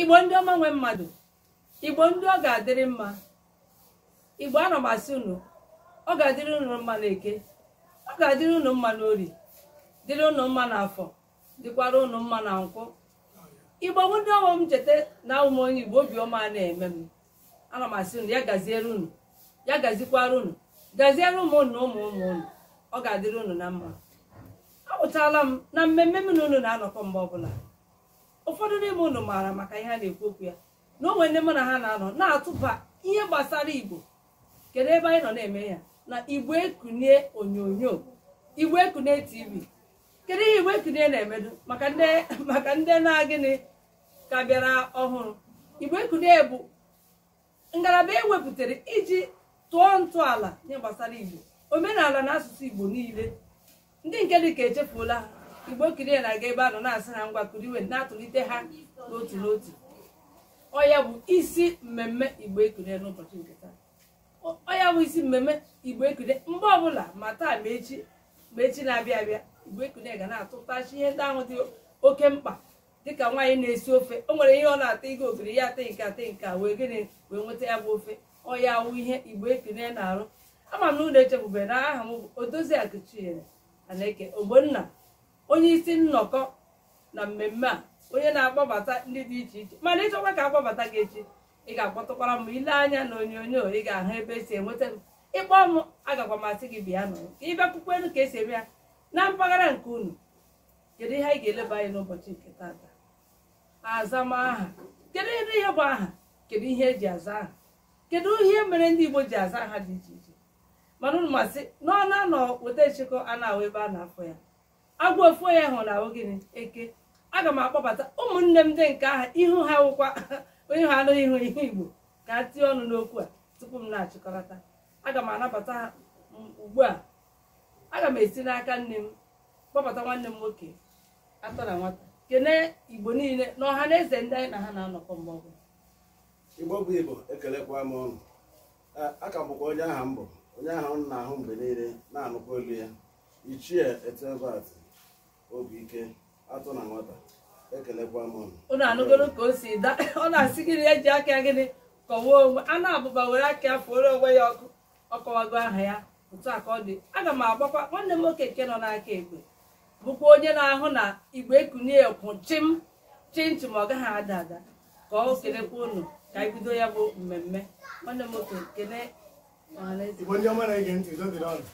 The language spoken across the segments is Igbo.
igbo ndị ọma nwe mmadụ igbo ndị ọ ga-adịrị mma igbo ana m asị unu ọ ga-adịrị unu mma na eke ọ ga-adịrị unu mma na orie dịrị unu mma na afọ dịkwara unu mma na nkwọ igbo bụ ndị ọma m cheta na awụ m onye igbo obi ọma ana-eme m ana m asị unu ya gaziere unu ya gazikwara unu gaziere ụmụ unu na ụmụ ụmụ unu ọ ga-adịrị unu na mma apụtala m na mmemme m na unu na-anọkọ mgbe ọbụla ụfọdụ n'ime unu maara maka ihe a na-ekwu okwu ya na o nwe ndị mụ na ha na-anọ na-atụba ihe gbasara igbo kedu ebe anyị nọ na-eme ya na igbo ekunie onyonyo igbo ekunie tv kedu ihe igbo ekunie na-emedu maka ndị na gịnị ka bịara ọhụrụ igbo ekunie bụ ngalaba ewepụtara iji tọọ ntọala ihe gbasara igbo omenala na asụsụ igbo niile ndị nke dị ka echefuola ha igbo ekunie na-aga ebe a nọ na-asị ha ngwa kuniwe na-atụtụlite ha n'otu n'otu ọ ya bụ isi mmemme igbo ekunie n'ụbọchị nke taa ọ ya bụ isi mmemme igbo ekunie mgbe ọbụla ma taa ma echi na-abịa abịa igbo ekunie ga na-atụtasị ihe ndị ahụ dị oke mkpa dịka nwaanyị na-esi ofe o nwere ihe ọ na-ata ịga ogiri ya ata nke a ta nke a wee gịnị wee nweta ya bụ ofe ọ ya awụ ihe igbo ekunie na-arụ ama m na unu echefube na aha m bụ odoziakụ chinyere aneke ogbonna onye isi nnọkọ na mmemme a onye na-akpọbata ndị dị iche iche mana ị chọkwa ka akpọbata gị echi ị ga-akpọtụkwara m i lee anya na onyonyo ị ga-ahụ ebe esi enweta m ị kpọọ m agakwa m asị gị bịa nọ ka ị bịa kwukwenu ka esi eme ya na mpaghara nke unu kedu ihe anyị ga-eleba anya n'ụbọchị nke tata azam aha kedu ihe bụ aha kedu ihe eji aza aha kedu ihe mere ndị igbo ji aza aha dị iche iche mana unu masị na ọ na-anọ weta nchekọ a na-ahụ ebe a na-afọ ya agwọ ofu anya hụ na-aghọ gịnị eke aga m akpọbata ụmụnne m ndị nke aha ihu ha wụkwa onye ha anụghị ihu ihe igbo ka ha tinye ọnụ n'okwu a tupu m na-achịkọlata aga m anabata ha ugbu a aga m esi n'aka nni m kpọbata nwanne m nwoke atọ na nwata kene igbo niile na ọha na eze ndị anyị na ha na-anọkọ mgbe ọbụla igbo bụ igbo ekelekwa m unu aka m bụkwa onye ahụ m bụ onye ahụ a na-ahụ mgbe niile na-anụkwa olu ya ichie ethelbert obi ike atọ na nwata ekelekwa m unu unu anụgoro ka o si da ọ na-asị gịnị eji aka ya gịnị kọwa onwe ya na-abụba were aka ya fụọrọ onwe ya ọkụ ọ kọwago aha ya otu a ka ọ dị aga m agbakwa nwanne m nwoke nke nọ n'aka ekpe bụkwa onye na-ahụ na Igbo ekunie kwụ chịm chịm chịm ọ gaghị ada ada ka ọ kelekwa unu ka anyị bido ya bụ mmemme nwanne m nwoke kele ọhaneze Igbo ndị ọma na-ege ntị udo dịrị unu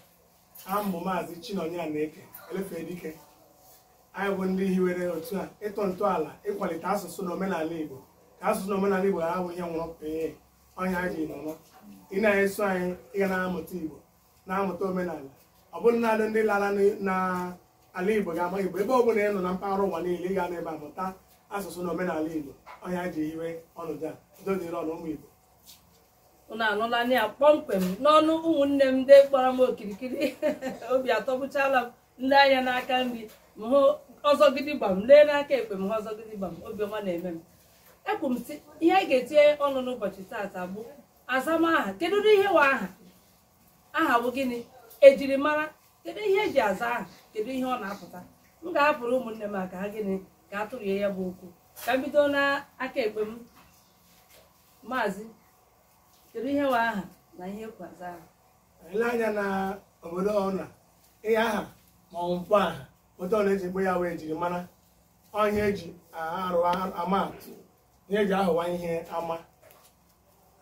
aha m bụ maazị Chinonye Aneke Elefedike anyị bụ ndị hiwere otu a ịtọ ntọala ịkwalite asụsụ na omenala Igbo ka asụsụ na omenala Igbo ghara ịbụ ihe nwụrụ pee ọ ihe anyị ji nọrọ ị na-eso anyị ị ga na-amụta igbo na-amụta omenala ọ bụrọ naanị ndị lara n- na ala igbo ga-ama igbo ebe ọ bụla ị nọ na mpaghara ụwa niile ị ga-anọ ebe a mụta asụsụ na omenala igbo ọ ihe anyị ji hiwe ọnọdụ a udo dịrị unu ụmụ igbo unu anụlanụ ya kpọmkwem n'ọnụ ụmụnne m ndị kpọrọ m okirikiri obi atọgbuchala m m lee anya n'aka nri m hụ ọzọ gidigbam lee n'aka ekpe m hụ ọzọ gidigbam obi ọma na-eme m ekwuru m sị ihe anyị ga-etinye ọnụ n'ụbọchị taata bụ azamaha kedu ụdị ihe wụ aha aha bụ gịnị ejirimara kedu ihe eji aza aha kedu ihe ọ na-apụta m ga-ahapụrụ ụmụnne m ka ha gịnị ka a tụrụ ya bụ okwu ka m bido n'aka ekpe m maazị kedu ihe wụ aha na ihe ekwo aza aha ele anya na obodo ọna ihe aha ma ọ bụ mkpọaha etu ọ na-eji akpọ ya wụ ejirimara ọ ihe eji arụ ama atụ ihe eji ahụwa ihe ama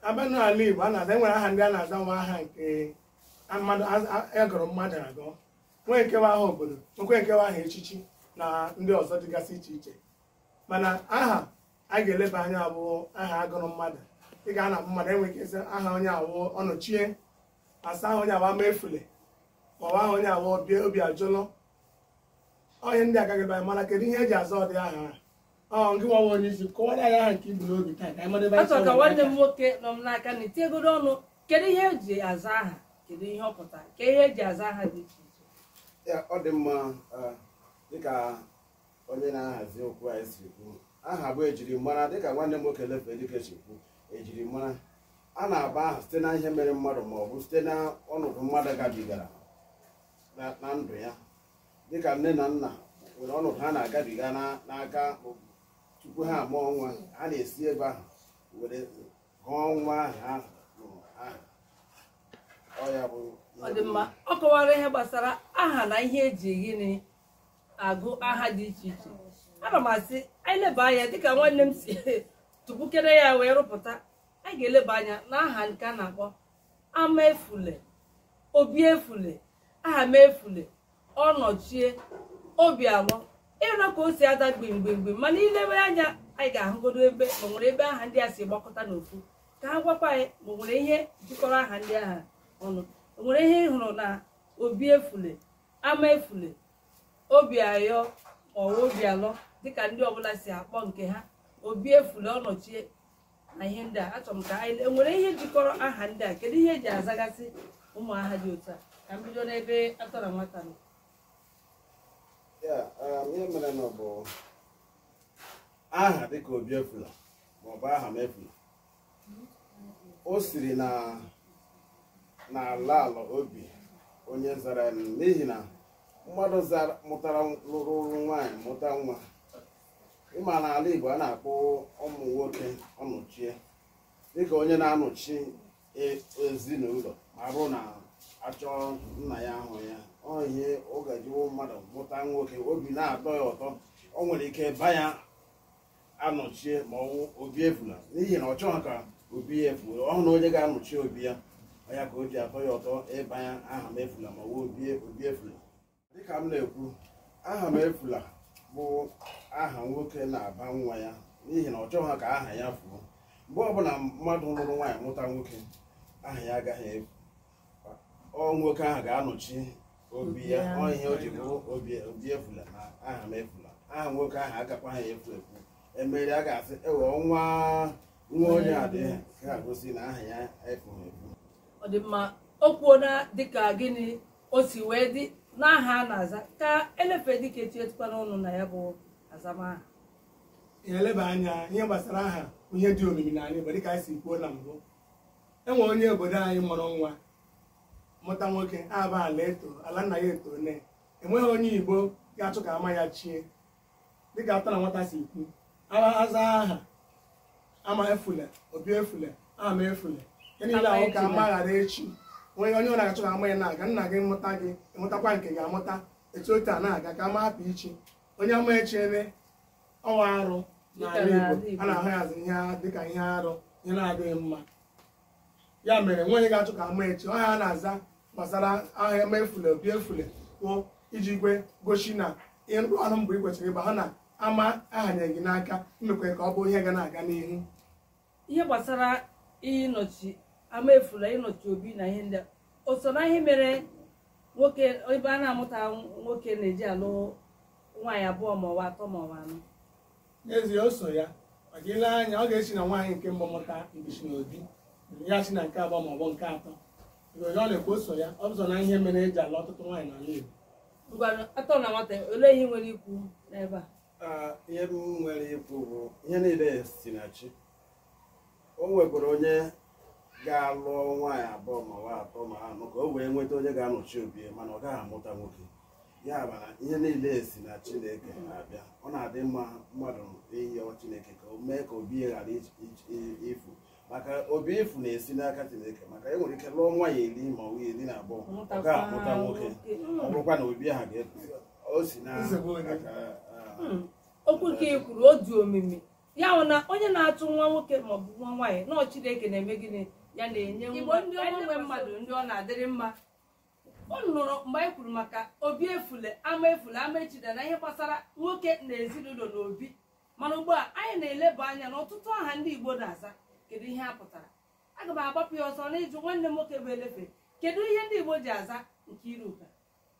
a bịa n'ala Igbo a na-aza enwere aha ndị a na-aza wụ aha nke mmadụ agụrụ mmadụ agụ nwee nke wụ aha obodo nwekwee nke wụ aha echichi na ndị ọzọ dịgasị iche iche mana aha a ga-eleba anya bụ aha agụrụ mmadụ ị ga na mmadụ enwe ike sị aha onye a wụ Ọnọchie a sị aha onye a wụ Amaefule ọ wụ aha onye a wụ Obiajụlụ onye ndị agaghị ebe anyị mana kedu ihe eji aza ụdị aha ọ ngị nwa onye isi kọwara anyị aha nke i bu n'obi taa ka anyị mara ebe anyị achọrọ ka nwanne m nwoke nọ m n'aka nri tinyegodo ọnụ kedu ihe eji aza aha kedu ihe ọ pụtara ka ihe eji aza aha dị iche iche ya ọ dị mma eh, dịka onye na-ahazi okwu anyị si kwu aha bụ ejirimara dịka nwanne m nwoke Elefedike si kwu ejirimara a na-aba aha site na ihe mere mmadụ ma ọ bụ site na ọnọdụ mmadụ gabigara na- na ndụ ya dịka nne na nna nwere ọnọdụ ha na-agabiga na- n'aka ma ọ bụ tupu ha amụọ nwa ha na-esi ebe ahụ were gụọ nwa ahụ ha mụrụ aha ọ ya bụ ọ dị mma ọ kọwara ihe gbasara aha na ihe eji gịnị agụ aha dị iche iche ana m asị anyị leba anya dịka nwanne m si tụpụkere ya wee rụpụta anyị ga-eleba anya na aha nke a na-akpọ ama efule obi efule aha m efule ọnọchie obi alọ ị nụ ka o si ada gbimgbimgbim mana ilewe anya anyị ga-ahụgodo ebe ma nwere ebe aha ndị a si gbakọta n'ofu ka ha gwakwa anyị ma nwere ihe jikọrọ aha ndị ahụ ọnụ o nwere ihe ị hụrụ na obi efule ama efule obi ayọ ọwa obi alọ dịka ndị ọbụla si akpọ nke ha obi efule ọnọchie na ihe ndị a achọrọ m ka anyị enwere ihe jikọrọ aha ndị a kedu ihe eji azagasị ụmụ aha dị otu a ka m bido n'ebe atọ na nwata nọ um, ihe mere na ọ bụ aha dịka obi efula maọbụ aha m efula o siri n'ala ala obi onye zara n'ihi na mmadụ mụtara lụrụ nwaanyị mụta nwa ịma na ala Igbo a na-akpọ ụmụ nwoke ọnọchie dịka onye na-anọchi e- ezinụlọ ma ọ bụrụ na achọ nna ya ahụ ya ọ ihe ọ ga-eji wụ mmadụ mụta nwoke obi na-atọ ya ụtọ o nwere ike ba ya anọchie ma ọ wụ obi efula n'ihi na ọ chọghị ka obi ya efu ọ hụna onye ga-anọchi obi ya ọ ya ka o ji atọ ya ụtọ ịba ya aha m efula ma ọ wụ obi obi efula dịka m na-ekwu aha m efula bụ aha nwoke na-aba nwa ya n'ihi na ọ chọghị ka aha ya fuo mgbe ọbụla mmadụ lụrụ nwaanyị mụta nwoke aha ya agaghị efu ọ nwoke ahụ ga-anọchi obi ya ọ ihe o ji bụrụ obi obi efula na aha m efula aha nwoke ahụ agakwaghị efu efu emere a ga-asị ewe ọ nwa nwa onye a dị ka gosi na aha ya efughị efu ọ dị mma o kwuo na dịka gịnị o si wee dị n'aha a na-aza ka elefe dịka etu tikwanụ ọnụ na ya bụ azamaha ihe eleba anya ihe gbasara aha ọ ihe dị omimi n'ala Igbo dịka anyị si kwuo na mbụ enwe onye obodo anyị mụrụ nwa mụta nwoke aba ala eto ala nna ya eto ne enweghị onye Igbo ga-achọ ka ama ya chie dịka atọ na nwata si kwu aza aha ama efule obi efule ama efule ihe niile ahụ ka ama ghara echi onye ọ na-achọ ka ama ya na-aga nna gị mụta gị ịmụtakwa nke gị amụta etu otu a na-aga ka ama hapụ ichi onye ama echiene ọ wụ arụ n'ala Igbo a na-ahụzi ya dịka ihe arụ ihe na-adịghị mma ya mere enweghị onye ga-achọ ka ama echi ọ ihe a na-aza gbasara aha ama efule obi efule kwuo iji wee gosi na ịrụ ọrụ mbụ ị kwesịrị ịgba ha na ama ahanyere gị n'aka imekwe ka ọ bụ ihe ga na-aga n'ihu ihe gbasara ịnọchi ama efula ịnọchi obi na ihe ndị a, o so na ihe mere nwoke ebe a na-amụta nwoke na-eji alụ nwaanyị abụọ ma ọ wụ atọ ma ọ wụ anọ n'ezie o so ya maka i lee anya ọ ga-esi na nwaanyị nke mbụ mụta mbichi na obi ya si na nke abụọ ma ọ bụ nke atọ Mgbe ọ na-ekwu o so ya ọ bụzọ na ihe mere e ji alụ ọtụtụ nwaanyị n'ala Igbo ngwanụ atọ na nwata olee ihe ị nwere ikwu n'ebe a Ah, ihe m nwere ikwu bụ ihe niile si na chi o nwekwara onye ga-alụ nwaanyị abụọ ma ọ wụ atọ ma anọ ka o wee nweta onye ga-anọchi obi ya mana ọ gaghị amụta nwoke ya mere na ihe niile si na chineke na-abịa ọ na-adị mma mmadụ ịyọ chineke ka o mee ka obi ya ghara ij- ij- i- ifu maka obi ifu na-esi n'aka chineke maka e nwere ike lụọ nwaanyị iri ma ọ bụ iri na abụọ ọ gaghị amụta nwoke ọ bụrụkwa na obi ahụ ga-efu o si na Nsogbu onye. aka, ah, okwu a i kwuru ọ dị omimi ya wụ na onye na-achọ nwa nwoke maọbụ nwa nwaanyị na ọ chineke na-eme gịnị ya na-enye igbo ndị ọma nwe mmadụ ndị ọ na-adịrị mma unu nụrụ mgbe anyị kwuru maka obi efule ama efule ama echida na ihe gbasara nwoke na ezinụlọ na obi mana ugbu a anyị na-eleba anya na ọtụtụ aha ndị igbo na-aza kedu ihe ha pụtara aga m agbapụ ya ọsọ n'ịjụ nwanne m nwoke bụ elefe kedu ihe ndị igbo ji aza nkeiruka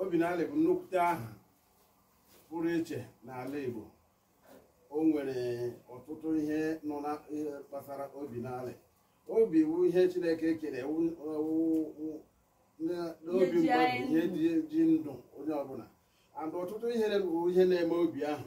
Obinalị bụ nnukwute aha pụrụ iche n'ala Igbo o nwere ọtụtụ ihe nọ na gbasara obi na ala obi bụ ihe Chineke kere n'obi mmadụ ihe ji ndụ onye ọbụla and ọtụtụ ihe bụ ihe na-eme obi ahụ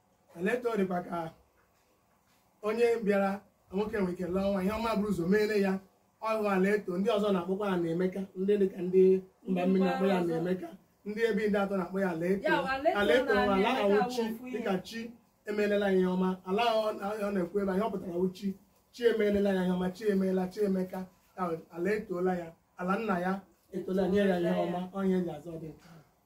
ala eto dịkwa ka onye bịara nwoke nwere ike lụọ nwa ihe ọma buru ụzọ meere ya ọ wụ ala eto ndị ọzọ na-akpọkwa ya anaemeka ndị dịka ndị mba mmiri na-akpọ ya anaemeka ndị ebe ndị atọ na-akpọ ya ala eto Ya, ala eto ala eto na nwa anaemeka ahụ chi bụ ofu ihe. dịka chi emeelela ya ihe ọma ala ahụ ọ na- ọ na-ekwu ebe anyị ọ pụtara wụ chi chi emeelela ya ihe ọma chi emeela chi emeka ya wụ ala etoola ya ala nna ya etola nye ya ihe ọma ọ ihe e ji aza ụdị nke ahụ.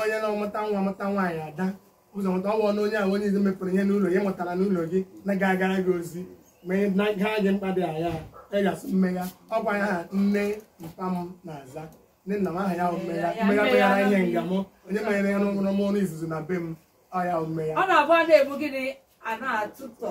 onye na-amụta nwa amụta nwaanyị ada ụzọ mụta ọ bụ ọnụ onye ahụ onye izizi mepụrụ ihe n'ụlọ ya mụtara n'ụlọ gị na ga-agara gị ozi ma ha gị mkpa dị agha ị ga-asị mmegha ọ kwa ya aha nne mpa m na-aza nne nna m aha ya mmegha mmegha meghara ihe nga m onye menyere ya n'ọnwụrụ m onye izizi na be m ọ ya mmegha ọ na-abụ a na-eme gịnị a na-atụtọ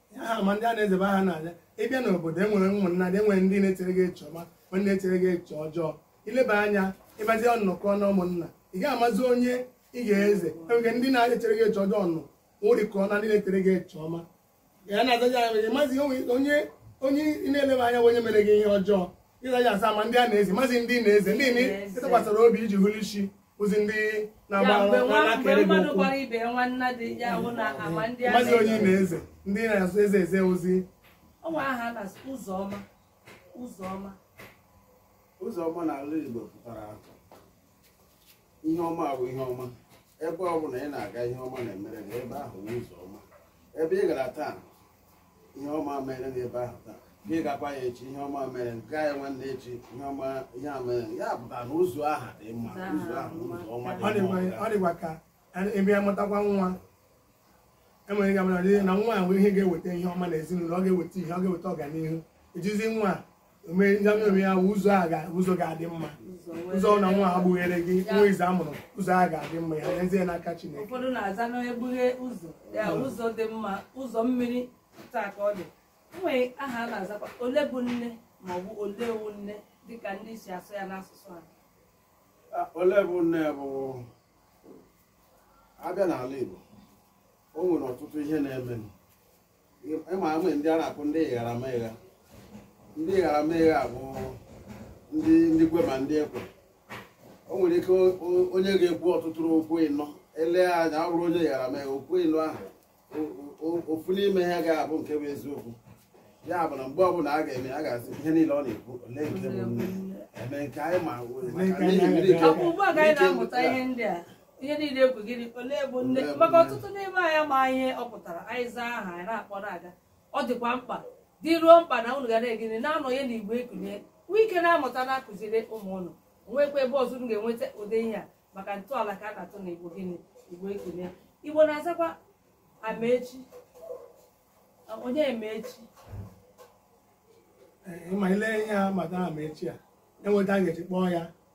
ama ndị a na-eze bụ aha a na-aza ị bịa n'obodo enwere ụmụnna dị enwere ndị na-echere gị eche ọma ma ndị na-echere gị eche ọjọọ i leba anya ị bazie nnọkọ na ụmụnna ị gaghị amazi onye ị ga-eze enwere ndị na-echere gị eche ọjọọ nọ nwụrịkọ na ndị na-echere gị eche ọma ya na-azaja ya nwere mazi onye onye ị na-eleba anya bụ onye mere gị ihe ọjọọ ịzaja aza ama ndị a na-eze amazi ndị a na-eze ndị na-etụkwasịra obi iji hụrụ isi ozi ndị na-agba Ya mgbe nwa- mgbe na-akere gị mmadụ ụkwụ gbara ibe ya nwanna dị ya ahụ na ama ndị a mazi onye na- ime eze ndị na-ezi ezi ozi o nwe aha a na-asị Ụzọma Ụzọma Ụzọma n'ala igbo pụtara ihe ọma bụ ihe ọma ebe ọ bụla ị na-aga ihe ọma na-emere gị ebe ahụ bụ ụzọ ọma ebe ị gara taa ihe ọma mere n'ebe ahụ taa gị gakwa ya echi ihe ọma mere gaa ya nwanne echi ihe ọma ihe a mere ya pụtara na ụzọ ahụ dị mma ụzọ ahụ ụzọ ọma dị mma ọ dịkwa ka ebe a mụtakwa nwa e nwere ike amara na nwa a nwere ihe ga-eweta ihe ọma na ezinụlọ ọ ga-eweta ihe ọ ga-eweta ọganihu ejizi nwa a ya ụzọ a ga ụzọ ga-adị mma ụzọ na nwa a gbughere gị nwa izizi a mụrụ ụzọ a ga-adị mma ya nyezie n'aka Chineke ụfọdụ na-aza n'egbughe ụzọ ya ụzọ dị mma ụzọ mmiri taa ka ọ dị e nwere aha a na-azakwa ole bụ nne ma ọ bụ ole wu nne dịka ndị si asụ ya n'asụsụ ha ah, ole bụ nne bụ a bịa n'ala Igbo o nwere ọtụtụ ihe na-eme ịma ama ndị a na-akpọ ndị ịghara ma ịgha ndị ịghara ma ịgha bụ ndị ndị kwe ma ndị ekwe o nwere ike o- o- onye ga-ekwu ọtụtụ okwu ịnọ ele anya ọ bụrụ onye ịghara ma ịgha okwu ịnọ ahụ o- o- ofu n'ime ha ga-abụ nke bụ eziokwu ya bụ na mgbe ọbụla a ga-eme a ga-asị ihe niile ọ na-ekwu ole nke bụ nne eme nke anyị ma maka n'ihi mmiri ike- Ọ bụ ugbu a ka anyị na-amụta ihe ndị a ihe niile ekwu gịnị olee bụ nne Olee bụ maka nne? ọtụtụ n'ime anyị ama ihe ọ pụtara anyị zaa aha anyị na-akpọ na-aga ọ dịkwa mkpa dị ruo mkpa na unu ga na-egere na-anọnye na igbo ekunie nwee ike na-amụta na-akụziri ụmụ unu nwekwa ebe ọzọ unu ga-enweta ụdị ihe a maka ntọala ka a na-atụ na igbo gịnị igbo ekunie igbo na-azakwa amaechi onye ma echi Ee, ma ile ihe a mata amaechi a enweta a ga-eji kpọọ ya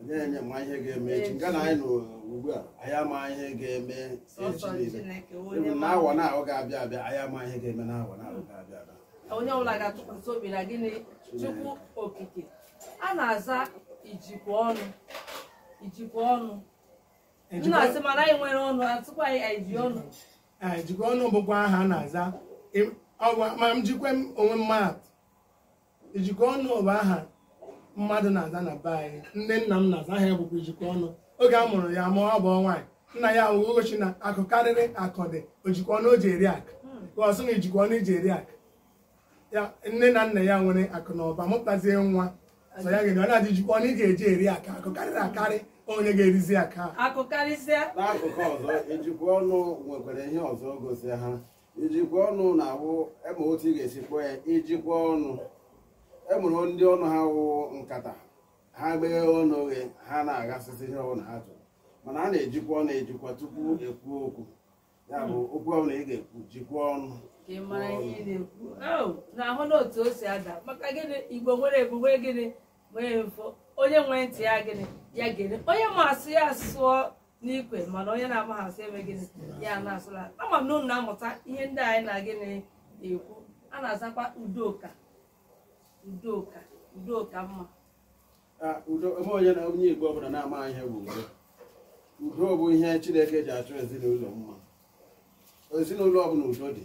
onye onye ma ihe ga-eme echi nga anyị nọ ugbu a anyị ama ihe ga-eme echi niile ịbụ na awa na ahụ ga-abịa abịa anyị ama ihe ga-eme na awa na ahụ ga-abịa abịa onye ọbụla ga-atụkwasị obi na gịnị chukwu okike a na-aza ijikwa ọnụ ijikwa ọnụ na-asị mana anyị nwere ọnụ atụkwa anyị anyị ji ọnụ Ee, ijikwa ọnụ bụkwa aha a na-aza Ị- ọgwa- ma njikwa m onwe mmadụ ijikwa ọnụ bụ aha mmadụ na-aza na be anyị nne nna m na-aza aha ya bụkwa ijikwa ọnụ oge a mụrụ ya ma ọ bụ nwaanyị nna ya wee sị na akụ karịrị akụ dị o jikwa ọnụ o ji eri akụ ka ọ sị na ijikwa ọnụ i ji eri akụ ya nne na nna ya nwere akụ na ụba mụtazie nwa sị ya gịnị ọ na-adị ijikwa ọnụ ị ga-eji eri akụ akụ karịrị akarị onye ga-erizi akụ a akụ karịsịa n'akụkụ ọzọ ijikwa ọnụ nwekwara ihe ọzọ gosi ha ijikwa ọnụ na-awụ ịma otu ị ga-esi kpọọ ya ijikwa ọnụ enwere ndị ọnụ ha wụ nkata ha gbee ọnụ oghe ha na-aghasịsị ihe ọbụla ha chọrọ mana a na-ejikwa ọnụ ejikwa tupu ekwu okwu ya bụ okwu ọbụla ị ga-ekwu jikwa ọnụ ka ị mara ihe ị na-ekwu unu ahụna otu o si ada maka gịnị igbo nwere ebube gịnị onye nwee ntị ya gịnị ya gere onye ma asụ ya sụọ n'ikwe mana onye na-amaghị asụ eme gịnị ya na-asụ ala ama m na unu na-amụta ihe ndị anyị na gịnị ekwu a na-azakwa udoka udoka udoka mma udo ebe onye na onye igbo ọbụla na-ama ihe bụ udo udo bụ ihe chineke ji achọ ezinụlọ mma ezinụlọ ọbụla udo dị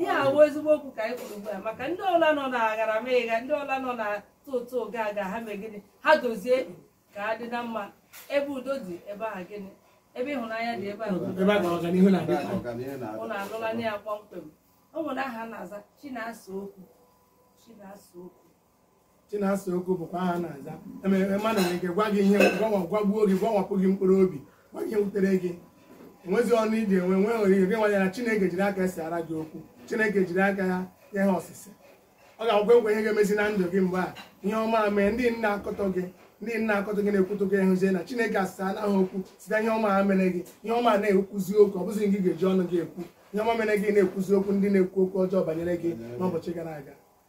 ihe a wụ ezigbo okwu ka anyị kwuru ugbu a maka ndị ụlọ ha nọ na agharamịgha ndị ụlọ ha nọ na tụtụ ga aga ha mee gịnị ha dozie ka ha dị na mma ebe udo dị ebe ahụ gịnị ebe ịhụnanya dị ebe ahụ udo ebe a ka ọganihu na-adị. unu anụlanụ ya kpọmkwem o nwere aha a na-aza chinasa okwu chinasa okwu Chinasa Okwu bụkwa aha a na-aza enwere mmadụ nwere ike gwa gị ihe gwawa gwagbuo gị gwawapụ gị mkpụrụ obi gwa gị ihe wutere gị enwezi ọnụ iji enwe nwee nwere ihe gị nwanye na Chineke jiri aka ya saara gị okwu Chineke jiri aka ya nye ha ọsịsa ọ ga-agwa nkwa ihe ga-emezi na ndụ gị mgbe a ihe ọma a mee ndị na-akọtọ gị ndị na-akọtọ gị na-ekwutọ gị ahụzie na Chineke asaara gị okwu site ihe ọma ahụ mere gị ihe ọma a na-ekwuzi okwu ọ bụzi gị ga-eji ọnụ gị ekwu ihe ọma mere gị na-ekwuzi okwu ndị na-ekwu okwu ọjọọ banyere gị n'ụbọchị gara aga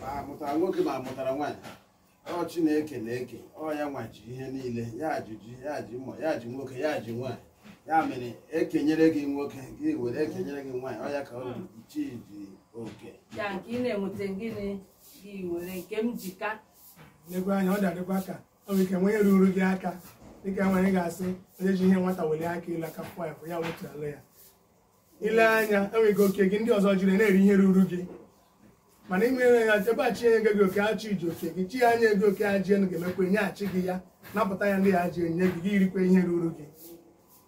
ma amụtara nwoke ma amụtara nwaanyị ọ chineke na-eke ọ ya nwa ji ihe niile ya ji ya ji mma ya ji nwoke ya ji nwaanyị ya mere ekenyere gị nwoke gị were ekenyere gị nwaanyị ọ ya ka ọ chi ji oke ya nke ị na-enweta gịnị gị were Nkemjika lekwa anya ọ dịkwa ka ọ bụ ike nwanye ruru gị aka dịka nwanyị ga-asị onye ji ihe nwata welie aka elu aka fụọ ya ụfụ ya wetuala ya ile anya enwere ike oke gị ndị ọzọ jiri na-eri ihe ruru gị mana ị nwere ya ebe a chi enye gị oke ọ chi ji oke gị chi ya nye gị oke ajị enu ga-emekwa nyeghachi gị ya napụta ya ndị ya ji enye gị gị irikwa ihe ruru gị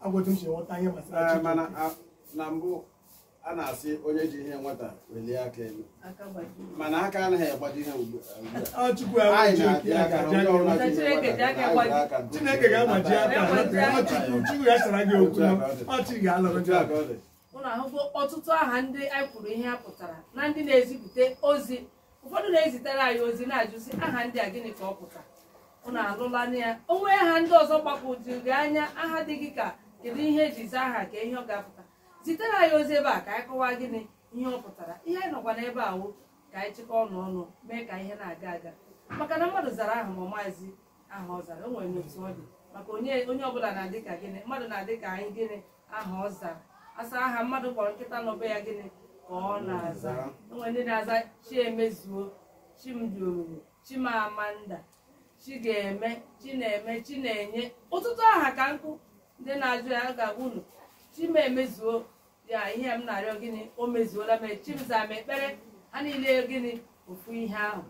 ọ wụ otu m si ghọta ihe gbasara chi mana na mbụ a na-asị onye ji ihe nwata welie aka elu mana aka anaghị agbaji ihe ugbu a Chineke ga-agbaji aka Chukwu ya sara gị okwu ọ chi ga-alụrụ gị aka ụnụ ahụgo ọtụtụ aha ndị anyị kwuru ihe ha pụtara na ndị na-ezipụta ozi ụfọdụ na-ezitere anyị ozi na-ajụzi aha ndị a gịnị ka ọ pụtara ụnụ anụlanụ ya o nwee aha ndị ọzọ gbagwojuru gị anya aha dị gị ka kedu ihe eji zaa aha ka ihe ọ ga-apụta zitere anyị ozi ebe a ka anyị kọwaa gịnị ihe ọ pụtara ihe anyị nọkwa n'ebe a wụ ka anyị chịkọọ ọnụ ọnụ mee ka ihe na-aga aga maka na mmadụ zara aha ma mazie aha ọ zara o nwere n'otu ọ dị maka onye onye ọbụla na-adị ka gịnị mmadụ na-adị ka gịnị aha ọ zara a sị aha mmadụ kpọrọ nkịta nọ be ya gịnị ka ọ na-aza o nwere ndị na-aza Chiemezuo Chimdiomimi Chimamanda Chigaeme Chineme Chinenye ọtụtụ aha ka nkụ ndị na-ajụ ya ga-agwa unu chi m emezuo ya ihe m na-arịọ gịnị o mezuola m Chimzamekpere ha niile gịnị ofu ihe ahụ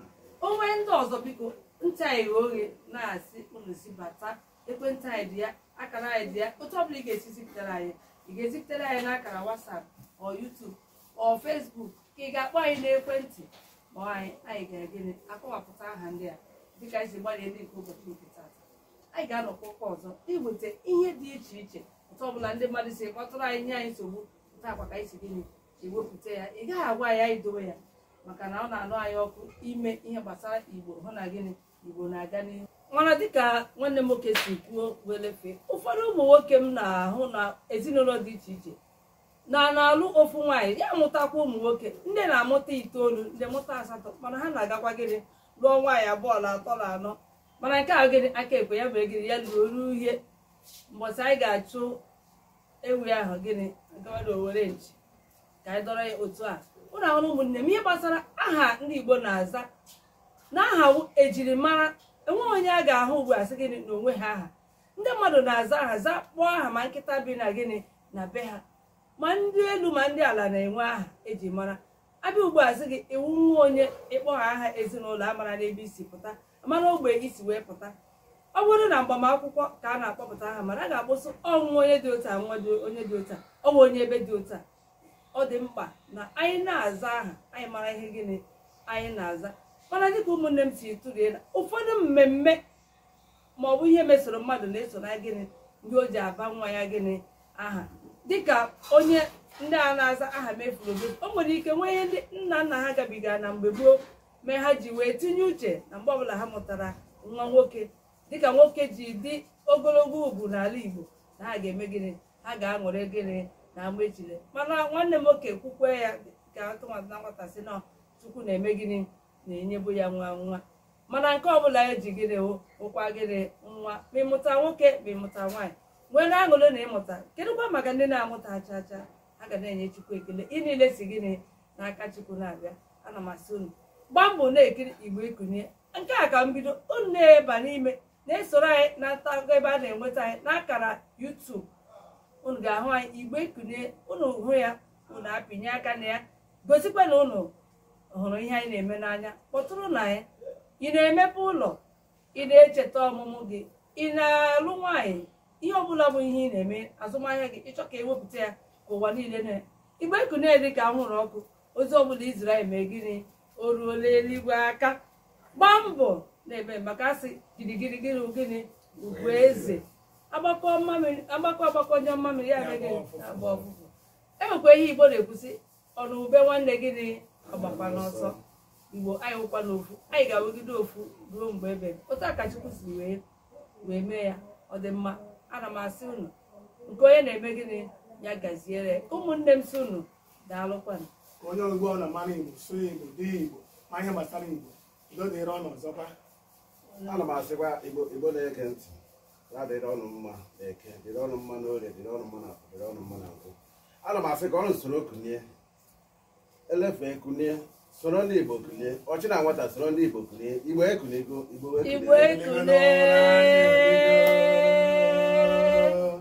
o nwee ndị ọzọ biko ntị anyị ghe oghe na-asị unu si bata ekwentị anyị dị ya akara anyị dị ya otu ọbụla ị ga-esi zipụtara anyị ị ga-ezipụtara anyị n'akara WhatsApp ọ YouTube ọ Facebook ka ị ga-akpọ anyị n'ekwentị ma anyị anyị ga gịnị akọwapụta aha ndị a dịka anyị si gbalịa ndị nke ụbọchị nke tata anyị ga-anọkwa ụka ọzọ iweta ihe dị iche iche otu ọbụla ndị mmadụ si kpọtụrụ anyị nye anyị nsogbu otu a kwa ka anyị si gịnị ewepụta ya ị gaghị agwa anyị anyị dowe ya maka na ọ na-anụ anyị ọkụ ime ihe gbasara igbo hụ na gịnị igbo na-aga n'ihu mana dịka nwanne m nwoke si kwuo welefe ụfọdụ ụmụ nwoke m na-ahụ na ezinụlọ dị iche iche na na-alụ ofu nwaanyị ya mụtakwa ụmụ nwoke ndị na-amụta itoolu ndị mụta asatọ mana ha na-agakwa gịnị lụọ nwaanyị abụọ na atọ na anọ mana nke a gịnị aka ekwe ya mere gịnị ya lụrụ oru uhie mbọsị anyị ga-achụ ewu ahụ gịnị a gbado owere nchi ka anyị dọrọ ya otu a unu ahụla ụmụnne m ihe gbasara aha ndị igbo na-aza na aha wụ ejirimara enweghị onye a ga-ahụ ugbu a sị gị na o nweghị aha ndị mmadụ na-aza aha a kpọọ aha ma nkịta bi na gịnị na be ha ma ndị elu ma ndị ala na-enwe aha eji mara a bịa ugbu a sị gị ị wụ nwa onye ị kpọọ ha aha ezinụlọ a mara n'ebe i si pụta mara ogbe i si wee pụta ọ bụrụ na mgbamakwụkwọ ka a na-akpọpụta aha mana a ga-akpọ sị ọ wụ onye dị otu a nwa onye dị otu a ọ wụ onye ebe dị otu a ọ dị mkpa na anyị na-aza aha anyị mara ihe gịnị anyị na-aza mana dịka ụmụnne m si tụlee na ụfọdụ mmemme ma ọ bụ ihe mesoro mmadụ na-eso na gịnị n'ihe o ji aba nwa ya gịnị aha dịka onye ndị a na-aza Ahamefule omefu o nwere ike nwee ihe ndị nna nna ha gabigara na mgbe gboo mee ha ji wee tinye uche na mgbe ọbụla ha mụtara nwa nwoke dịka nwoke ji dị ogologo ugwu n'ala Igbo na ha ga-eme gịnị ha ga-aṅụrị gịnị na ama ejile mana nwanne m nwoke kwukwe ya ka atụmatụ na nwata si na Chukwu na-eme gịnị na-enyebu ya nwa nwa mana nke ọbụla eji gịnị wụkwa gịnị nwa ma ị mụta nwoke ma ị mụta nwaanyị nwee na aṅụrị na ị mụta kedụkwa maka ndị na-amụtaghị cha cha ha ga na-enye Chukwu ekele ihe niile si gịnị n'aka Chukwu na-abịa ana m asị unu gbaa mbọ na-ekiri igbo ekunie nke a ka mbido unu na-eba n'ime na-esoro anyị na ntago ebe a na-enweta anyị n'akara YouTube unu ga-ahụ anyị igbo ekunie unu hụ ya unu apịnye aka na ya gosikwa na unu hụrụ ihe anyị na-eme n'anya kpọtụrụ na ya ị na-emepe ụlọ ị na-echeta ọmụmụ gị ị na-alụ nwaanyị ihe ọbụla bụ ihe ị na-eme azụmahịa gị ị chọọ ka e wepụta ya ka ụwa niile na igbo ekunie dị ka anwụrụ ọkụ ozi ọbụla i ziri anyị mee gịnị o ruola eluigwe aka gbaa mbọ na-eme maka a sị girigiri gịnị gịnị ugwu eze agbakọ mmamịrị agbakọ a gbakọọ nyụọ mmamịrị ya mee gịnị agbaa ụfụfụ e nwekwa ihe igbo na-ekwu sị ọ nụ ube nwanne gịnị agbakwana ọsọ igbo anyị wụkwanụ ofu anyị ga-awụgide ofu ruo mgbe ebe otu a ka Chukwu si wee mee ya ọ dị mma ana m asị unu nke onye na-eme gịnị ya gaziere ụmụnne m sị unu daalụkwanụ onye igbo ọ na-amara igbo sụọ igbo dee igbo ma ihe gbasara igbo udo dịrị unu ọzọkwa ana m asịkwa igbo na-ege ntị ya dịrị unu mma na eke dịrị unu mma na orie dịrị unu mma na afọ dịrị unu mma na nkwọ ana m asị ka unu soro kunie elefee kunie soro ndị igbo kunie ochie na nwata soro ndị igbo kunie igbo ekuniego igbo igbo wee kunie ekule